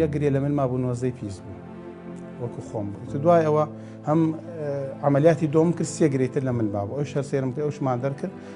یە گرێ لە من مابوو نۆزەی پیس بوو وەکو خۆم بوو دوای ئەوە هەم عملیاتی دۆم کرد سێ گرێتر لە من بابەوە ئەو شەر سێرم کرد ئەوشمان دەرکرد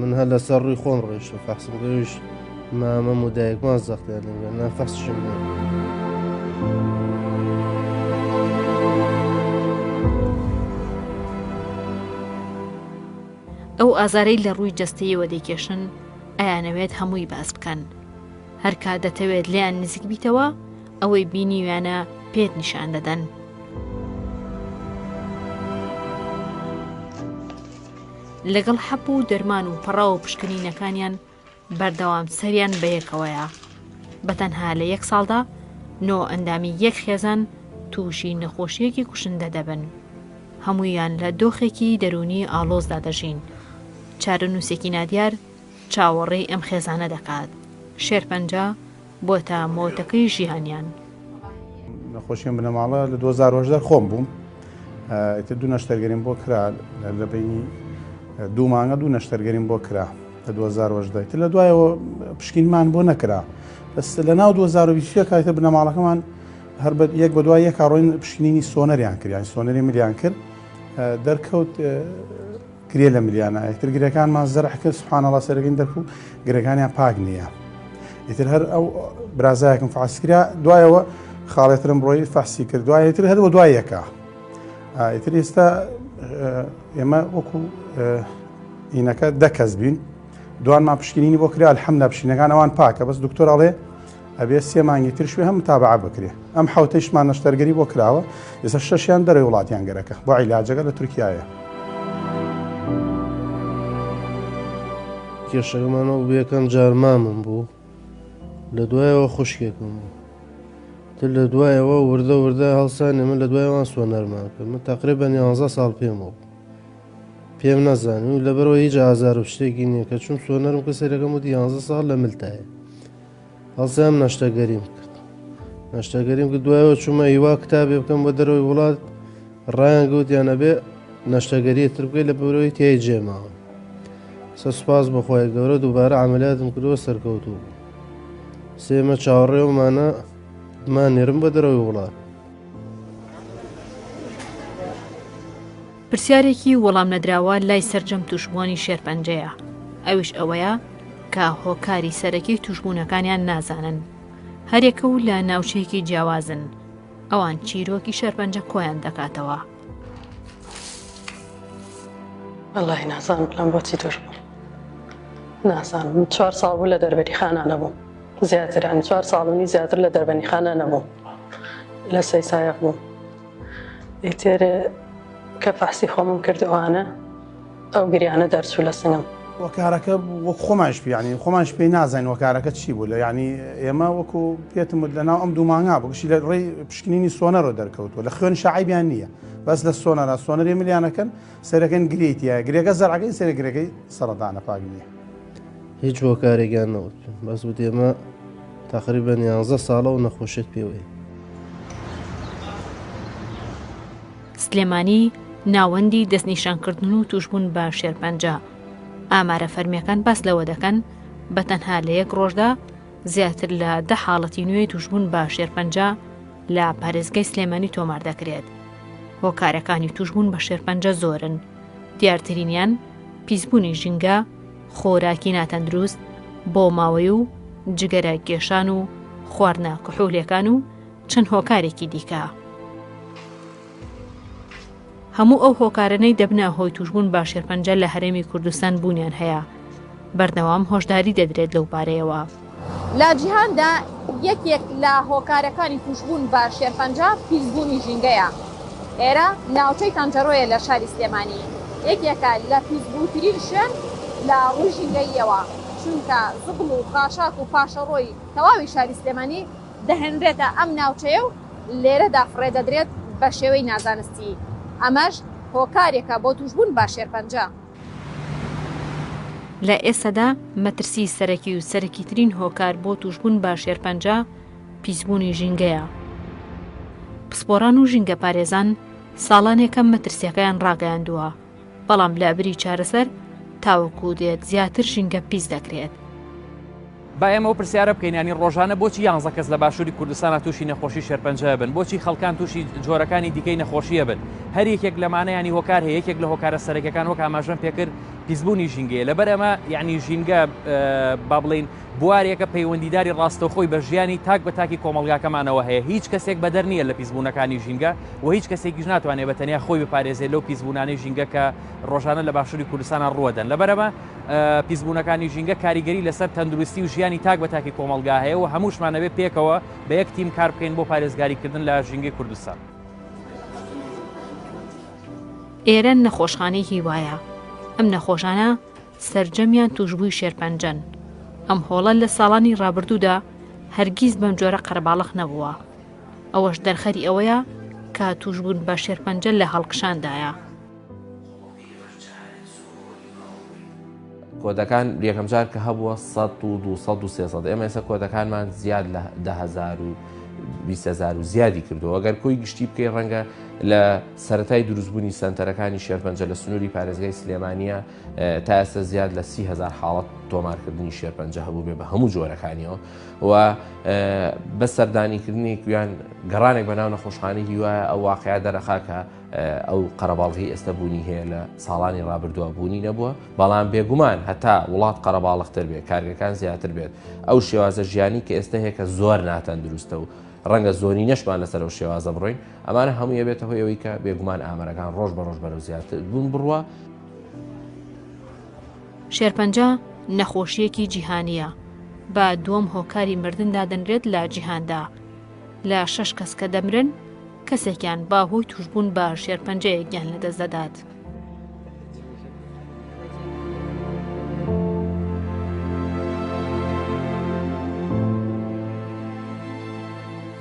من هەر لەسەر ڕووی خۆم ڕۆیشتم فەخسم گەویش مامەم و دایکمان زەختیان لەگەن نا فەخشم لێ. ئەو ئازارەی لە ڕووی جەستەیەوە دەیکێشن ئەیانەوێت هەمووی باس بکەن هەرکا دەتەوێت لیان نزیک بیتەوە ئەوەی بینیویانە پێت نیشان دەدەن لەگەڵ حەپ و دەرمان و پەڕاو و پشکنینەکانیان بەردەوام سەریان بەیەکەوەیە بەتەنها لە یەک ساڵدا نۆ ئەندامی یەک خێزان تووشی نەخۆشیەکی کوشندە دەبن هەموویان لە دۆخێکی دەرونی ئالۆزدا دەژین چارەنووسێکی نادیار چاوەڕێی ئەم خێزانە دەکات شێرپەنجە بۆتە مۆتەکەی ژیانیان. نەخۆشیم بنەماڵە لە دوو هەزار و هەژدە خۆم بووم ئیتر دوو نەشتەرگەریم بۆ کرا لە بینی دوو مانگە دوو نەشتەرگەریم بۆ کرا لە 2010 تر لە دوایەوە پشکینمان بۆ نەکرا بەس لە ناو 2020 کاتە بنەماڵەکەمان هەر بە یەک بە دوای یەک کاڕۆین پشینینی سۆنەریان کردیان سۆنەری ملیان کرد دەرکەوت گرێ لە ملیانا یەکتر گرێکانمان زەرح کرد سبحان الله سەرەکەین دەرکو گرێکانیان پاک نییە ئیتر هەر ئەو برازایەکم فاس کرا دوایەوە خاڵێترم ڕۆی فەحسی کرد دوایەتر هەروە دوای یەکە ئیتر ئێستا ئێمە وەکو ئینەکە دەکەس بین دوانمان پشکنینی بۆ کرا الحەمدا پشینەکان ئەوان پاکە بەس دکتۆر ئەڵێ ئەبێ سێ مانگی ترش وێ هەم متابعە بکرێ ئەم حوتەیشمان نەشتەرگەری بۆ کراوە ئێستا شەشیان دەرەوەی وڵاتیان گەرەکە بۆ عیلاجەکە لە تورکایە. کێشەکەمانەوە بوو یەکەم جار مامم بوو لە دوایەوە خوشکێکم بوو تر لە دوایەوە وردە وردە هەڵسان ئێمە لە دوایوان سوە نەرمان کرد من تەقرێ بە نیانزە ساڵ پێم بوو پێم نەزانانی و لەبەرەوە هیچ ئازار و شتێکی نییە کە چون سۆنەرم کە سەرەکەم و دیانزە ساڵ لە ملتایە هەڵسام نەشتەگەریم کرد نەشتەگەریم کرد دوایەوە چوومە هیوا کتابێ بکەم بە دەرەوەی وڵات ڕایان گوتیان ئەبێ نەشتەگەریە تر بکەیت لە بەرەوەی تای جێماوە سە سوپاس بەخوای گەورە دووبارە ئاملاتم کردوە سەرکەوتوو بوو سێمە چاوەڕێومانە مان نێرم بە دەرەوەی وڵات پرسیارێکی وەڵام نەدراوە لای سەرجەم تووشبووانی شێرپەنجەیە، ئەویش ئەوەیە کە هۆکاری سەرەکی تووشبوونەکانیان نازانن، هەریەکە و لە ناوچەیەکی جیاوازن، ئەوان چیرۆکی شێرپەنجە کۆیان دەکاتەوە. وەڵاهی نازانم بڵێم بۆچی تووشبووم، نازانم من چوار ساڵ بوو لە دەربەریخانا نەبووم، زیاتر یانی چوار ساڵ و نیو زیاتر لە دەربەنیخانا نەبووم، لە سەیسایەغ بووم. ئیتر کە فەحسی خۆمم کرد ئەوانە ئەو گریانە دەرچوو لە سنگم. وەکارەکە وەک خۆمانش پیانی خۆمانش پێی نازین وەکارەکە چی بوو لە ینی ئێمە وەکو پێتم وت لە ناو ئەم دوومانگا بگشی لە ڕێی پشکنینی سۆنەرۆ دەرکەوتووە لە خوێن شعیبیان نییە بەس لە سۆنەرا سۆنەری ملیانەکەن سەرەکەن گرێی تیا گرێگە زەرعەکەی سەر گرێگەی سەردانە پاک نییە هیچ هۆکارێکیان نەوت بەس بتێمە تقریبا 11 ساڵە و نەخۆشێت پێوەی سلێمانی ناوەندی دەستنیشانکردن و توشببوون بە شێرپەنجە ئامارە فەرمیەکان باس لەوە دەکەن بە تەنها لە یەک ڕۆژدا زیاتر لە دە حاڵەتی نوێ توشببوون بە شێرپەنجە لە پارێزگای سلێمانی تۆمار دەکرێت. هۆکارەکانی توشبوون بە شێرپەنجە زۆرن. دیارترینیان پیسبوونی ژینگە، خۆراکی ناتەندروست، بۆ ماوەی و جگەرە کێشان و خواردنە کحولێکان و چەند هۆکارێکی دیکە. هەموو ئەو هۆکارەنەی دەبنە هۆی توشبوون بە شێرپەنجە لە هەرێمی کوردستان بوونیان هەیە بەردەوام هۆشداری دەدرێت لەو بارەیەوە. لە جیهاندا یەکێک لە هۆکارەکانی توشبوون بە شێرپەنجە پیسبوونی ژینگەیە، ئێرە ناوچەی تەنجەرۆیە لە شاری سلێمانی یەکێکە لە پیسبووترین شوێن لە ڕووی ژینگەییەوە، چونکە زبڵ و خاشاک و پاشەڕۆی تەواوی شاری سلێمانی دەهێنرێتە ئەم ناوچەیە و لێرەدا فڕێ دەدرێت بە شێوەی نازانستی، ئەمەش هۆکارێکە بۆ تووشبوون بە شێرپەنجە. لە ئێستادا مەترسیی سەرەکی و سەرەکیترین هۆکار بۆ تووشبوون بە شێرپەنجە پیسبوونی ژینگەیە. پسپۆڕان و ژینگەپارێزان ساڵانێکە مەترسییەکەیان ڕاگەیاندووە، بەڵام لەبری چارەسەر تاوەکو دێت زیاتر ژینگە پیس دەکرێت. با ئێمە ئەو پرسیارە بکەین یانی ڕۆژانە بۆچی یانزە کەس لە باشووری کوردستانە تووشی نەخۆشی شێرپەنجە بن بۆچی خەڵکان تووشی جۆرەکانی دیکەی نەخۆشیە بن هەر یەکێک لەمانەیانی هۆکار هەیە یەکێک لە هۆکارە سەرەکەەکان وەک ئاماژەم پێکرد پیسبوونی ژینگەیە لەبەر ئەمە یعنی ژینگە با بڵین بوارێکە پەیوەندیداری ڕاستەوخۆی بە ژیانی تاک بە تاکی کۆمەڵگاکەمانەوە هەیە، هیچ کەسێک بەدەر نییە لە پیسبوونەکانی ژینگە و هیچ کەسێکیش ناتوانێت بە تەنیا خۆی بپارێزێت لەو پیسبوونانەی ژینگە کە ڕۆژانە لە باشووری کوردستانا ڕووەدەن، لەبەر ئەمە پیسبوونەکانی ژینگە کاریگەری لەسەر تەندروستی و ژیانی تاک بە تاکی کۆمەڵگا هەیە و هەمووشمان ئەبێت پێکەوە بە یەک تیم کار بکەین بۆ پارێزگاریکردن لە ژینگەی کوردستان. ئێرە نەخۆشخانەی هیوایە، ئەم نەخۆشانە سەرجەمیان تووشبووی شێرپەنجەن. ئەم هۆڵە لە ساڵانی ڕابردوودا هەرگیز بەم جۆرە قەرەباڵغ نەبووە. ئەوەش دەرخەری ئەوەیە کە تووشبوون بە شێرپەنجە لە هەڵکشاندایە. کۆدەکان یەکەم جار کە هەبووە سەد و دوو سەد و سێ سەد ئێمە ئێستا کۆدەکانمان زیاد لە دە هەزار و بیست هەزار و زیادی کردو ئەگەر کۆی گشتی بکەی ڕەنگە لە سەتای دروستبوونی سەنتەرەکانی شێرپەنجە لە سنووری پارێزگای سلێمانیە تا ئێستا زیاد لە سی هزار حاڵەت تۆمارکردنی شێرپەنجە هەبوو بێ بە هەموو جۆرەکانیەوە و بە سەردانیکردنی گویان گەڕانێک بە ناو نەخۆشخانی هیوایە ئەو واقعیا دەرەخاکە ئەو قەرەباڵغی ئێستا بوونی هەیە لە ساڵانی ڕابردووە بوونی نەبووە بەڵام بێگومان هەتا وڵات قەرەباڵختر بێت کارگەکان زیاتر بێت ئەو شێوازە ژیانی کە ئێستا هەیە کە زۆر ناتەن دروستە و ڕەنگە زۆری نەشمان لەسەر و شێوازە بڕۆین ئەمانە هەموو یەبێتەوە ئەوەی کە بێگومان ئامەرەکان ڕۆژ بە ڕۆژ بەرەو زیاتر بوون بڕە شێرپەنجە نەخۆشییەکی جیهانییە، بە دووەم هۆکاری مردن دادەنرێت لە جیهاندا، لە شەش کەس کە دەمرن، کەسێکیان بە هۆی تووشبوون بە شێرپەنجەیە گیان لەدەست دەدات.